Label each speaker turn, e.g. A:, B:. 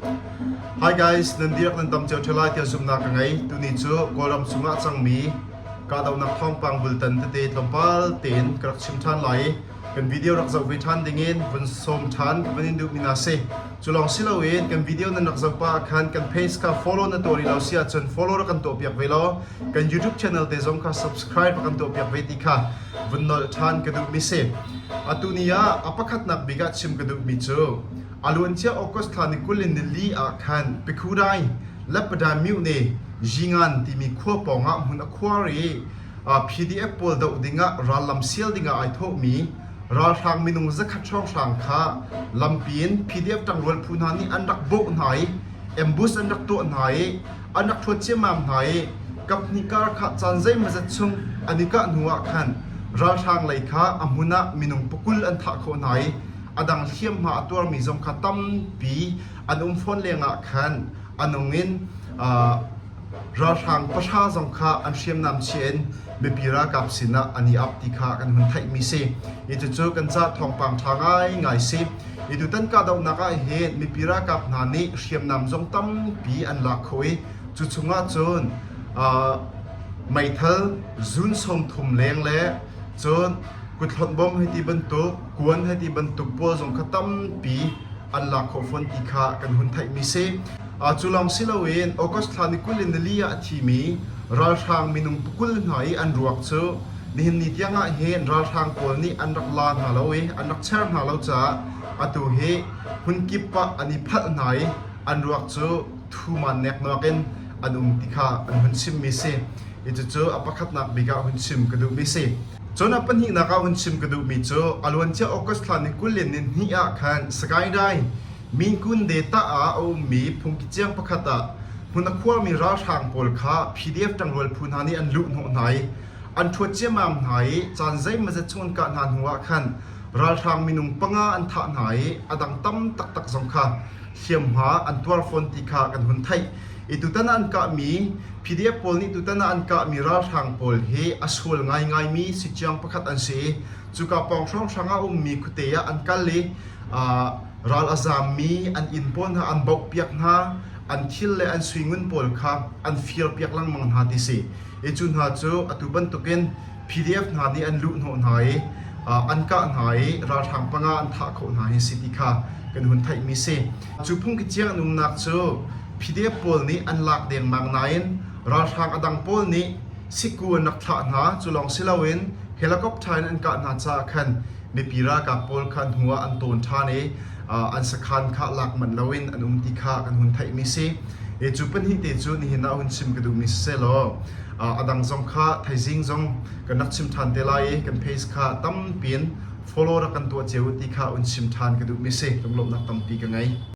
A: Hi guys, nan dirak nan tam cio ṭheo lai tiah zumhnak ka ngei. Tuni cu Kawlram chungah cangmi kahdohnak thawngpang bultan tete tlawmpal tein ka rak chim ṭhan lai i kan video rak zoh ve ṭhan dingin vun sawm ṭhan ka van in duhmi na si. Cu lawng si loin kan video nan rak zoh pah ah khan kan page kha follow na tuah rih lo si ahcun follow rak kan tuah piak ve law kan YouTube channel te zong kha subscribe rak kan tuah piak ve ti kha vun nolh ṭhan ka duhmi si. Atu ni ah a pakhatnak bik ah chim ka duhmi cu A luancia August thla ni kul in nili ah khan Pikhudai, Leppadamyuh ne Zingan timi khua pawng ah hmun a khuar i PDF pawl doh dingah rallam sial dingah ai thawhmi ralhrang minung zakhat hrawnghrang kha lampi in PDF ṭangrual phu hna nih an rak bawh hna i ambush an rak tuah hna i an rak ṭhuat ciammam hna i kaphnih kar kha caan zeimazat chung an i kah hnu ah khan ralhrang lei kha a hmun ah minung pakul an thah khawh hna i a dang hliamhma a tuarmi zong kha tampi an um fawn lengah khan a nung in ralhrang pahra zong kha an hriamnam chia in mipi ralkap sinah an i ap ti kha kan hun theihmi si itucu kan ca thawngpang ṭha ngai ngai si itu tan kahdohnak ah hin mipi ralkap hna nih hriamnam zong tampi an lak kho i cu chungah cun meithal zun sawm thum leng le cun kuthlawnh bom hei ti bantuk kuan he ti bantuk pawl zong kha tampi an lak khawh fawn ti kha kan hun theihmi si. Cu lawng si loin August thla ni kul in nili ah a thimi ralhrang minung pukul hna i an ruak cu nihin ni tiangah hin ralhrang pawl nih an rak la hna lo i an rak cher hna lo caah atu hi hmunkip ah an i phalh hna i an ruak cu thuman neknak in an um ti kha an hun chimmi si. I cucu a pakhatnak bik ah hun chim ka duhmi si. Cun a pahnihnak ah vun chim ka duhmi cu a luancia August thla ni kul le ni hnih ah khan Sagaing mi Kunde tah ah a ummi phungki ciang pakhat ah hmun a khuami ralhrang pawl kha PDF ṭangrual phu hna nih an luh hnawh hna i an ṭhuat ciammam hna i caan zeimazet chung an kah hna hnuah khan ralhrang minung panga an thah hna i a dang tam taktak zong kha hliamhma an tuar fawn ti kha kan hun theih i tutan ah an kahmi PDF pawl nih tutan ah an kahmi ralhrang pawl hi a sual ngaingai mi sikciang pakhat an si cuka pawng hrawnghrang ah ummi khuate ah an kal i ral a zaammi an inn pawl hna an bauh piak hna an thil le an sui ngun pawl kha an fir piak lengmang hna ti si i cu hna cu atu bantukin PDF hna nih an luh hnawh hna i an kah hna i ralhrang panga an thah khawh hna hi si ti kha kan hun theihmi si. Cu phungkiciang an umnak cu PDF pawl nih an lak dengmang nain ralhrang a dang pawl nih sikku an rak thlah hna. Cu lawng si loin helicopter in an kah hna caah khan mipi ralkap pawl kha an hnu ah an tawn ṭhan i an sakhan kha lak manh loin an um ti kha kan hun theihmi si. Cu pahnih te cu nihin ah hun chim ka duhmi si seh law A dang zong kha thaizing zong kan rak chim ṭhan te lai i kan page kha tampi in follow rak kan tuah cio ti kha un chim ṭhan ka duhmi si. Lunglawmhnak tampi ka ngei.